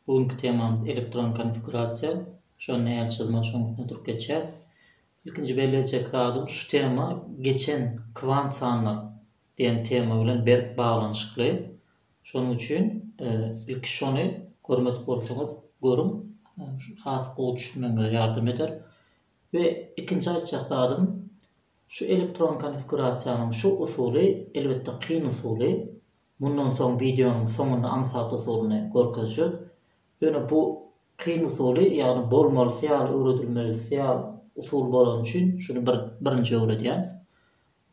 Bu günki temamyz elektron konfigurasiýa. Şonda äl çyzmak şoň üstüne durup geçýäs. Ilkinji bellejek zadym şu tema geçen kwant sanlar diýen tema bilen berk baglanyşykly. Şonuň üçin e, ilki şony görmedik bolsaňyz görüň. E, has gowy düşünmegiňize ýardam eder. We ikinji aýtjak zadym şu elektron konfigurasiýanyň şu usuly elbetde kyn usuly. Mundan soň wideonyň soňunda aňsat usulyny görkezjek. Ýöne bu kyn usuly, ýagny bolmalysy ýaly öwredilmelisi ýaly usul bolany üçin şuny bir birinji öwredýän.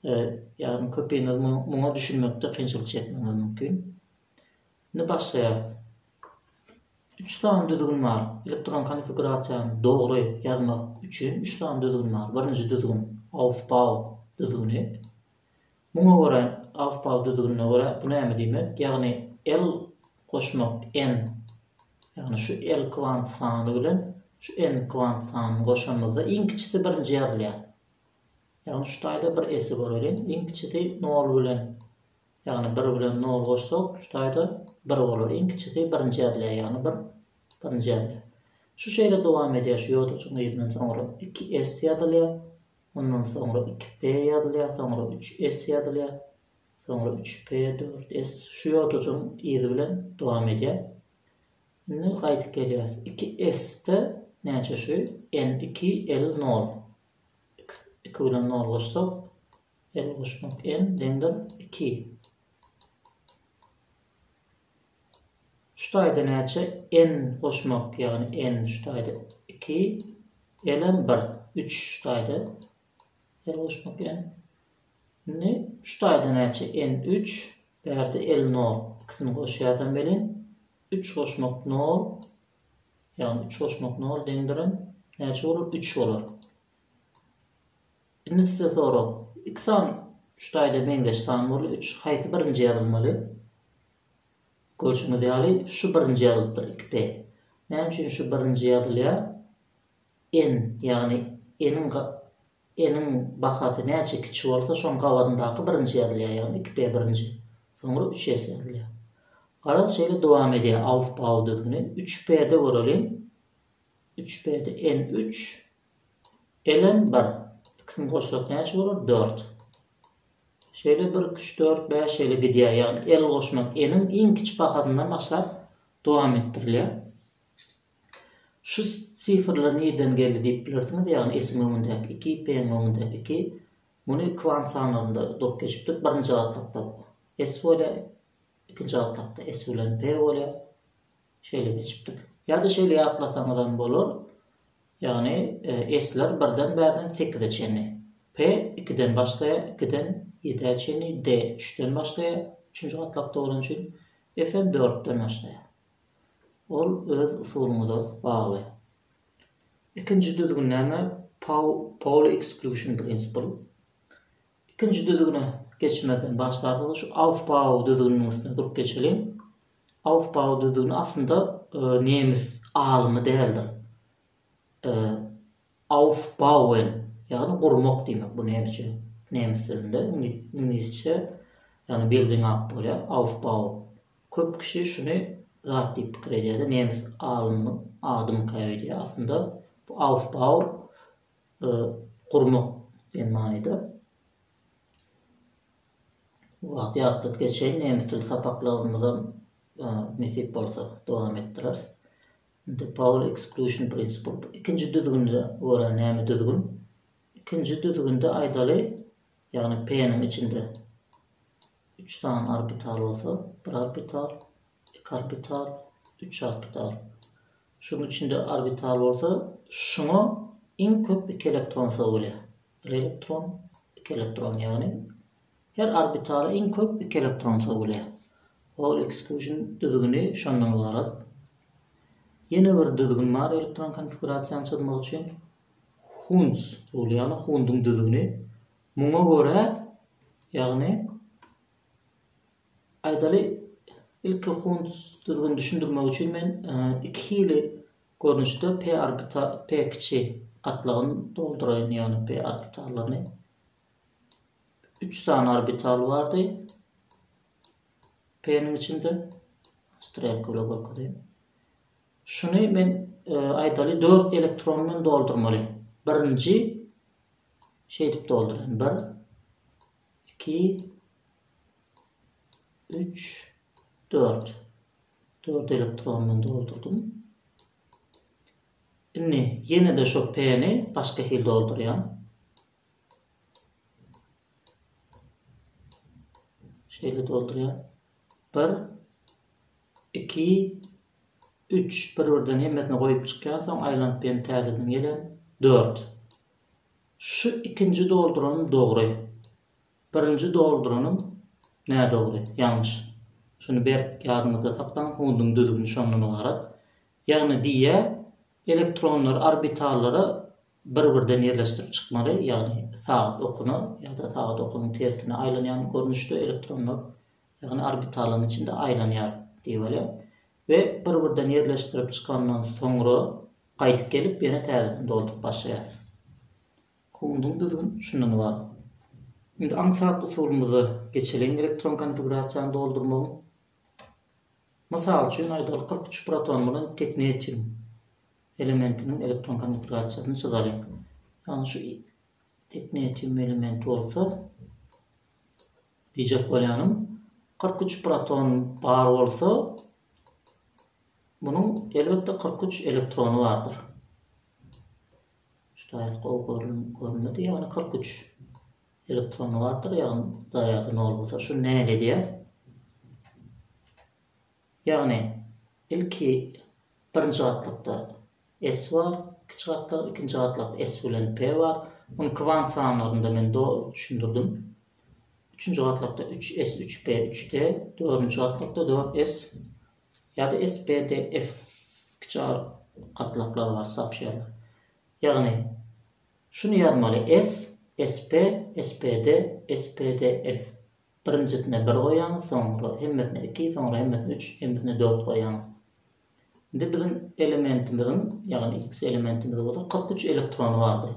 Ýagny köpiňiz muňa düşünmekde kynçylyk çekmegiňiz mümkin. Indi başlaýarys. Üç sany düzgün bar. Elektron konfigurasiýany dogry ýazmak üçin üç sany düzgün bar. Birinji düzgün Aufbau düzgüni. Muňa görä, Aufbau düzgünine görä, bu näme diýmek, ýagny L goşmak N, ýagny şu L kwant sany bilen şu N kwant sanyny goşanymyzda iň kiçisi birinji ýazylýar. Ýagny şu taýda bir S-i göreliň, iň kiçisi nol bilen, ýagny bir bilen nol goşsak, şu taýda bir bolar, iň kiçisi birinji ýazylýar, ýagny bir birinji ýazylýar. Şu şeýle dowam edýär, şu ýodajygyň yzyndan soňra iki S ýazylýar, Ondan soňra iki p ýazylýar, soňra üç s ýazylýar, soňra üç p, dört s şu ýodajygyň yzy bilen dowam edýär. Indi gaýdyp gelýäs. Iki s-de näçe şu? N iki, L nol. X iki bilen nol goşsak, L goşmak N deňdir iki. Şu taýda näçe n goşmak, ýagny n şu taýda iki, l hem bir, üç şu taýda l goşmak n. Indi şu taýda näçe n üç, bärde l nol, ikisini goşýarsam welin, üç goşmak nol, ýagny üç goşmak nol deňdir n, näçe bolar, üç bolar. Inisde sorag. Iki san şu taýda meňzeş san boldy, üç. Haýsy birinji ýazylmaly? Görşüňiz ýaly, şu birinji ýazylypdyr, iki p. Näme üçin şu birinji ýazylýar? N, ýagny n-iň ga, n-iň bahasy näçe kiçi bolsa, şoň gabadyndaky birinji ýazylýar, ýagny iki p birinji, soňra üç s ýazylýar. Garaz, şeýle dowam edýär alfbaw düzgüni. Üç p-de göreliň, Üç berde n üç. Ln bir. Ikisini goşsak näçe bolar? Dört. Şeýle bir, iki, üç, dört, bäş şeýle gidýär. Ýagny l goşmak n-iň iň kiçi bahasyndan başlap dowam etdirilýär. Şu sifrler nireden geldi diýip bilersiňiz, ýagny s-iň öňündäki iki, p-iň öňündäki iki. Muny kwant sanlarynda durup geçipdik. Birinji gatlakda s bolýar, ikinji gatlakda s bilen p bolýar. Şeýle geçipdik. Ýa-da şeýle ýatlasaňyzam bolar, ýagny S-ler birden bärden sekize çenli. P ikiden başlaýar, ikiden ýedä çenli, D üçden başlaýar, üçünji gatlakda bolany üçin, F-em dörtden başlaýar. Ol öz usulyňyza bagly. Ikinji düzgün näme? Pauli eksklusion prinsipal. Ikinji düzgüne geçmezden başlarsyňyz, şu aufbau düzgüniniň üstünde durup geçeliň. Aufbau düzügini aslynda nemes alymy däldir. Aufbauen, ýagny gurmak diýmek bu nemişe, nemes dilinde, iňlisçe, ýagny building up bolýar, Aufbau. Köp kişi şuny zat diýip pikir edýärler, nemes alymynyň adymyka öýdýär. Aslynda bu Aufbau gurmak diýen manyda. Bu wagty ýatladyp geçeýin, nemes dili sapaklarymyzam nesip bolsa dowam etdireris. Indi Paul Exclusion Principle ikinji düzgünde görä näme düzgün? Ikinji düzgünde aýdaly, ýagny P-niň içinde 3 sany orbital bolsa, bir orbital, iki orbital, üç orbital. Şuň içinde orbital bolsa, şuňa iň köp iki elektron sygap bolýar. Bir elektron, iki elektron, ýagny her orbitala iň köp iki elektron sögülýär. Hall ekskluzion düzgüni şondan ybarat. Ýene bir düzgün bar elektron konfigurasiýany çyzmak üçin. Hunds ruly, ýagny Hunduň düzgüni. Muňa görä, ýagny aýdaly ilki Hunds düzgüni düşündirmek üçin men e, iki hili Görnüşde p orbital p kiçi gatlagyny dolduraýyn ýagny p orbitallaryny üç sany orbital bardy p niň içinde strelka bilen görkezeyim. Şuny men e, aýdaly 4 elektron bilen doldurmaly. Birinji şeýdip dolduraýyn. 1 2 3 4 Dört elektrondan doldurdym. Indi ýene-de şo P-ni başga hil doldurýan. Şeýle doldurýan. 1 2 3 bir-birden hemmesini goýup çykýan, soň aýlanyp ýene täzeden gelen. 4. Şu ikinji dolduran dogry. Birinji dolduranyň nädogry, ýalňyş. Şuny berk ýadyňyzda saklaň, hunduň düzgüni şondan ybarat. Ýagny diýýär, elektronlary orbitallara bir-birden ýerleşdirip çykmaly, ýagny sagat okuna ýa-da sagat okunyň tersine aýlanýan görnüşde elektronlar, ýagny orbitalaryň içinde aýlanýar diýip alýar we bir-birden ýerleşdirip çykandan soňra gaýdyp gelip ýene täzeden dolduryp başlaýarsyň. Howundyň düzgün şundan ybarat. Indi aňsat usulymyza geçeliň elektron konfigurasiýany doldurmagyň. Mysal üçin aýdaly kyrk üç proton bilen teknetin elementiniň elektron konfigurasiýasyny çyzalyň. Ýagny şu teknetin elementi bolsa diýjek bolýanym kyrk üç proton bar bolsa munuň elbetde kyrk üç elektrony bardyr. Ştaýt gowy görünmedi ýagny kyrk üç elektron bardyr ýagny zarýady nol bolsa şuny nähili edýäs ýagny ilki birinji gatlakda s bar kiçi gatlak ikinji gatlak s bilen p bar muny kwant sanlarynda men doly düşündirdim üçünji gatlakda üç s üç p üç d dördünji gatlakda dört s ýa-da SPDF kiçi ar gatlaklary bar, sapşýerler. Ýagny, şuny ýazmaly, S, SP, SPD, SPDF. Birinjisine bir goýýaňyz, soňra hemmesine iki, soňra hemmesine üç, hemmesine dört goýýaňyz. Indi biziň elementimiziň, ýagny X elementimizde bolsa kyrk üç elektrony bardy.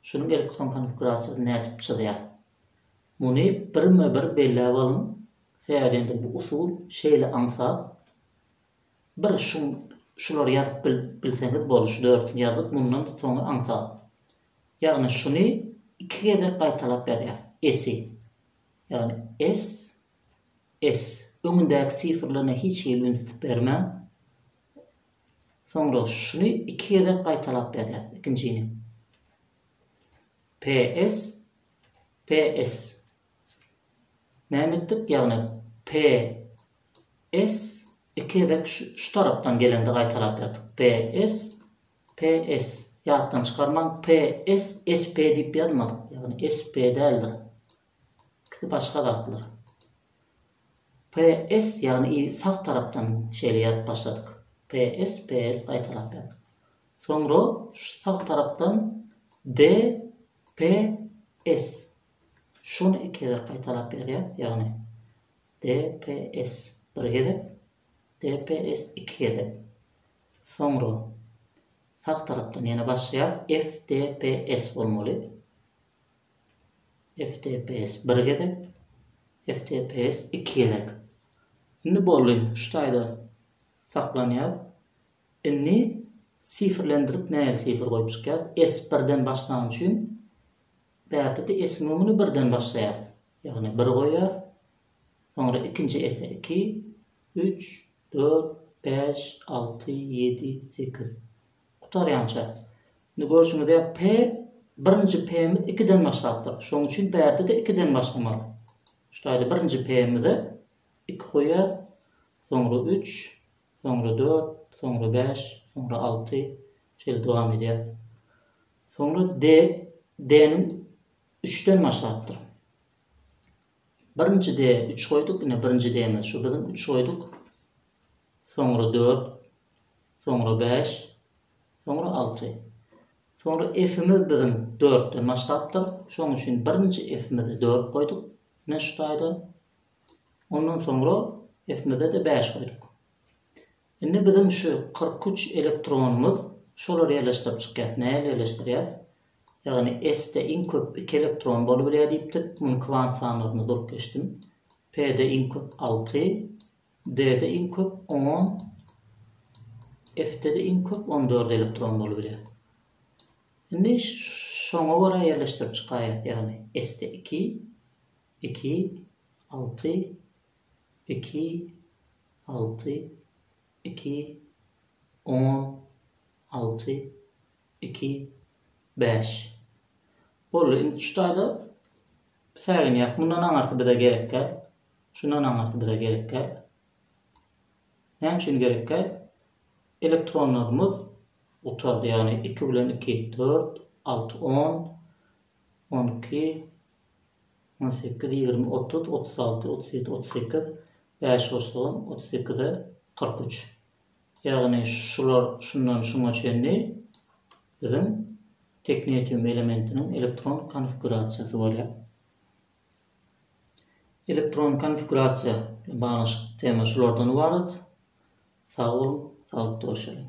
Şunuň elektron konfigurasiýasyny nädip çyzýas? Muny birme-bir belläp alyň, sähelende bu usul şeýle aňsat. Bir şum şulary ýazyp bilseňiz boldy, şu dörtüni ýazdyk, mundan soňy aňsat. Ýagny şuny iki gezek gaýtalap ýazýas, esi. Ýagny es, es. Öňündäki sifrlerine hiç hili üns bermäň. Soňra şuny iki gezek gaýtalap ýazýas, ikinjini. PS, PS. Näme etdik? Ýagny PS iki gezek şu tarapdan gelende gaýtalap ýazdyk. PS, PS. Ýatdan çykarmaň, PS, SP diýip ýazmadyk. Ýagny SP däldir. Ikisi başga zatlar. PS ýagny sag tarapdan şeýle ýazyp başladyk. PS, PS gaýtalap ýazdyk. Soňra şu sag tarapdan DPS. Şuny iki gezek gaýtalap ýazýas, ýagny DPS bir gezek, DPS iki gezek. Soňra sag tarapdan ýene başlaýas, FDPS bolmaly. FDPS bir gezek, FDPS iki gezek. Indi boldy, şu taýda saklanýas. Indi sifrlendirip nähili sifr goýup çykýas? S birden başlany üçin bärde-de S-iň öňüni birden başlaýas. Ýagny bir goýýas. Soňra ikinji S-e iki, üç, dört, bäş, alty, ýedi, sekiz. Gutarýança. Indi görşüňiz ýaly P birinji P-miz ikiden başlapdyr. Şonuň üçin bärde-de ikiden başlamaly. Şu taýda birinji P-mize iki goýýas. Soňra üç, soňra dört, soňra bäş, soňra alty, şeýle dowam edýär. Soňra de, deniň üçden başlapdyr. Birinji de üç goýduk, ine birinji demiz şu biziň üç goýduk. Soňra dört, soňra bäş, soňra alty. Soňra efimiz biziň dörtden başlapdyr. Şoň üçin birinji efimize dört goýduk. Ine şu taýda Ondan soňra Esmede-de bäş goýduk. Indi biziň şu kyrk üç elektronymyz, şolary ýerleşdirip çykýas. Nähili ýerleşdirýäs? Ýagny S-de iň köp iki elektron bolubilýär diýipdik. Muny kwant sanlaryna durup geçdim. P-de iň köp alty, D-de iň köp on, F-de-de iň köp on dört elektron bolubilýär. Indi şoňa görä ýerleşdirip çykaýas. Ýagny S-de iki, Iki, alty, iki, alty, iki, on, alty, iki, bäş. Boldy, indi şu taýda säginýäs. Mundan aňarsy bize gerekkä. Şundan aňarsy bize gerekkä. Näme üçin gerekkä? Elektronlarymyz gutardy, ýagny 2 bilen 2, 4, 6, 10, On iki, on sekiz, ýigrimi, otuz, otuz alty, otuz ýedi, otuz sekiz, bäş goşsagam, otuz sekize, kyrk üç. Ýagny şular şundan şuňa çenli biziň teknetium elementiniň elektron konfigurasiýasy bolýar. Elektron konfigurasiýa bilen baglanyşykly tema şulardan ybarat. Sag boluň, saglykda görşeliň.